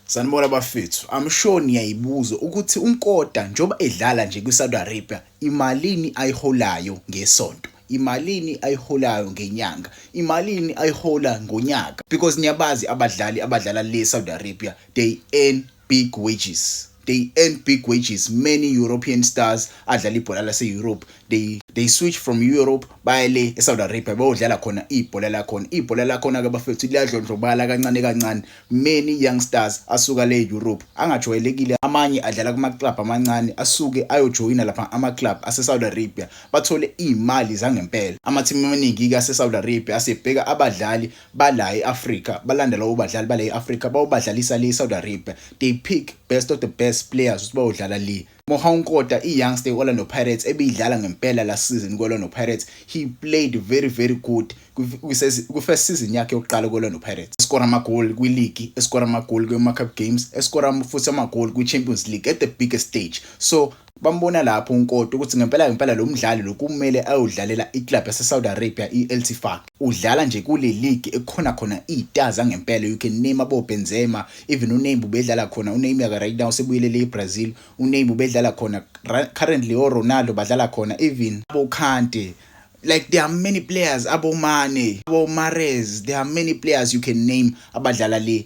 Sanibona bafethu, I'm sure niyayibuza ukuthi uNkoda njengoba edlala nje kwiSaudi Arabia imalini ayiholayo ngesonto, imalini ayiholayo ngenyanga, imalini ayihola ngonyaka because niyabazi abadlali abadlala le Saudi Arabia they earn big wages. they earn big wages many european stars adlala ibhola lase-europe they, they switch from europe baye le esaudi arabia bayodlala khona ibhola lakhona ibhola lakhona-ke bafethu liyadlondlobala kancane kancane many young stars asuka le europe angajwayelekile amanye adlala kumaclub amancane asuke ayojoyina lapha amaclub asesaudi arabia bathole iy'mali zangempela amathimu amaningi-ke asesaudi arabia asebheka abadlali bala e-Africa balandela ubadlali bala e-Africa bawubadlalisa le Saudi Arabia they pick best of the best players ukuthi bawudlala le Mohau Nkota i-youngster i-Orlando Pirates ebiyidlala ngempela last season kwi-Orlando Pirates he played very very good kwi-first season yakhe yokuqala kwi-Orlando Pirates eskora amagoli kwiligi eskora amagoli kwi-Cup games eskora futhi amagoli kwi-Champions League at the biggest stage so Bambona lapho uNkoti ukuthi ngempela ngempela lo mdlali lo kumele ayodlalela i-club yase-Saudi Arabia i-Al Tifaq. Udlala nje kule ligi ekukhona khona iy'taa zangempela. You can name aboBenzema, even uNeymar ubedlala khona. UNeymar-ke right now usebuyelele e-Brazil. UNeymar ubedlala khona. Currently oRonaldo badlala khona even aboKante. Like there are many players, aboMane, aboMahrez, there are many players you can name abadlala le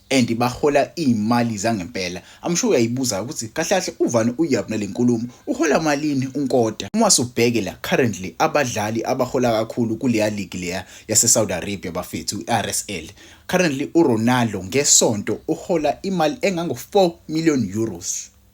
and bahola iy'mali zangempela I'm sure uyayibuza ukuthi kahle kahle uvani uyab nale nkulumo uhola malini unkota uma subheke la currently abadlali abahola kakhulu kuleya league leya yasesaudi arabia bafethu i-rsl currently uronaldo ngesonto uhola imali engango-4 million euros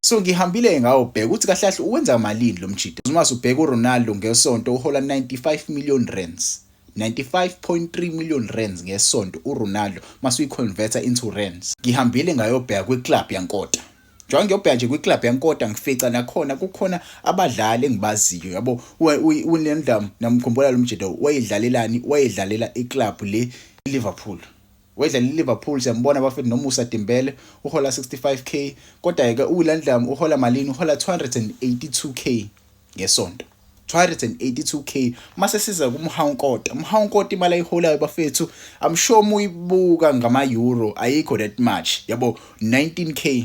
So ngihambile ngawo bheka ukuthi kahle kahle uwenza malini lo mjita. Uma usubheka uRonaldo ngesonto uhola 95 million rands. 95.3 million rands ngesonto uRonaldo masuyiconverter into rands. Ngihambile ngayobheka kwiclub yaNkota. Njengoba ngiyobheka nje kwiclub yaNkota ngifica nakhona kukhona abadlali engibaziyo yabo uNendam namkhumbula lo mjita wayedlalelani wayedlalela iclub le Liverpool. Wedla liLiverpool siyambona bafethu noMusa Dembele uhola 65k kodwa ke uWilliam uhola malini uhola 282k ngesonto 282k mase siza kumhawunkota umhawunkota imali ayiholayo bafethu i'm sure muyibuka ngama euro ayikho that much yabo 19k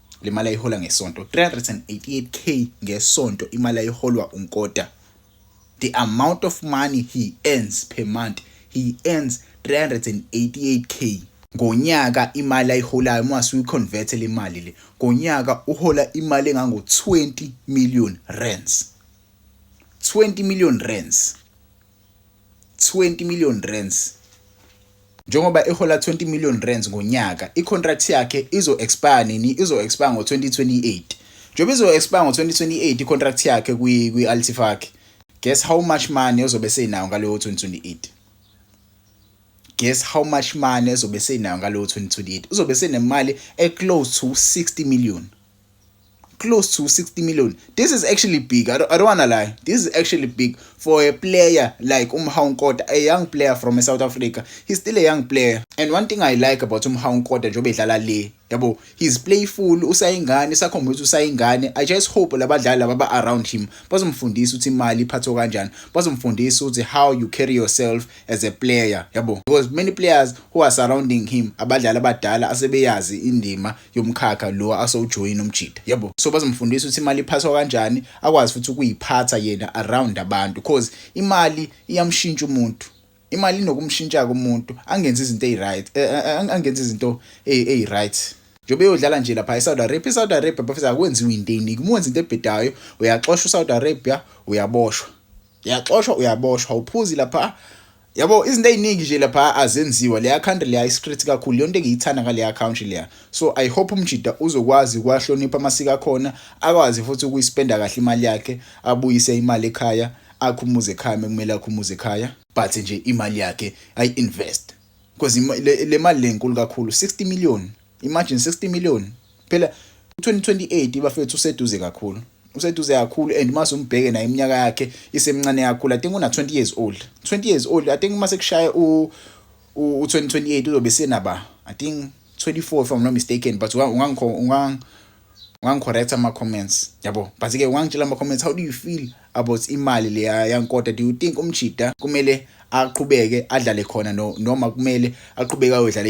le mali ayihola ngesonto 388k ngesonto imali ayiholwa unkota the amount of money he earns per month he earns 388k ngonyaka imali ayiholayo uma suyiconvert le mali le ngonyaka uhola imali engango 20 million rands 20 million rands 20 million rands njengoba ehola 20 million rands ngonyaka icontract yakhe izo expire nini izo expire ngo 2028 njengoba izo expire ngo 2028 icontract yakhe kwi kwi Altifaki guess how much money ozobe senayo ngaleyo 2028 guess how much money ezobe senayo ngaleyo 2028 uzobe senemali e close to 60 million close to 60 million this is actually big i don't, I don't wanna lie this is actually big for a player like umhawu nkota a young player from a south africa he's still a young player and one thing i like about umhawu nkota njengoba edlala le yabo he's playful usayingane sakhomba ukuthi usayingane i just hope labadlali laba ba around him bazomfundisa ukuthi imali iphathwa kanjani bazomfundisa ukuthi how you carry yourself as a player yabo because many players who are surrounding him abadlali abadala asebeyazi indima yomkhakha lo asewujoyina umjita yabo so bazomfundisa ukuthi imali iphathwa kanjani akwazi futhi ukuyiphatha yena around abantu cause imali iyamshintsha umuntu imali inokumshintsha kumuntu angenzi izinto eziryt eh, eh, eh, angenzi izinto eziryt njengoba eyodlala nje lapha eSaudi Arabia eSaudi Arabia bafisa akwenziwe into eyiningi uma wenza into ebhedayo uyaxoshwa uSaudi Arabia uyaboshwa uyaxoshwa uyaboshwa uphuzi lapha yabo izinto eziningi nje lapha azenziwa leya country leya isecret kakhulu yonto engiyithanda ngaleya country leya so i hope umjida uzokwazi kwahlonipha amasiko akhona akwazi futhi ukuyispenda kahle imali yakhe abuyise imali ekhaya akhumuze ekhaya kumele akhumuze ekhaya but nje imali yakhe ayi invest because le mali lenkulu kakhulu 60 million Imagine 60 million. Phela 2028 bafethu useduze kakhulu. Useduze kakhulu and mase umbheke naye iminyaka yakhe isemncane kakhulu. I think una 20 years old. 20 years old. I think mase kushaya u u 2028 uzobe senaba. I think 24 if I'm not mistaken but ungangikho ungang ungangicorrect ama comments yabo but ke ungangitshela ama comments how do you feel about imali le yankota do you think umjida kumele aqhubeke adlale khona no noma kumele aqhubeke ayodlala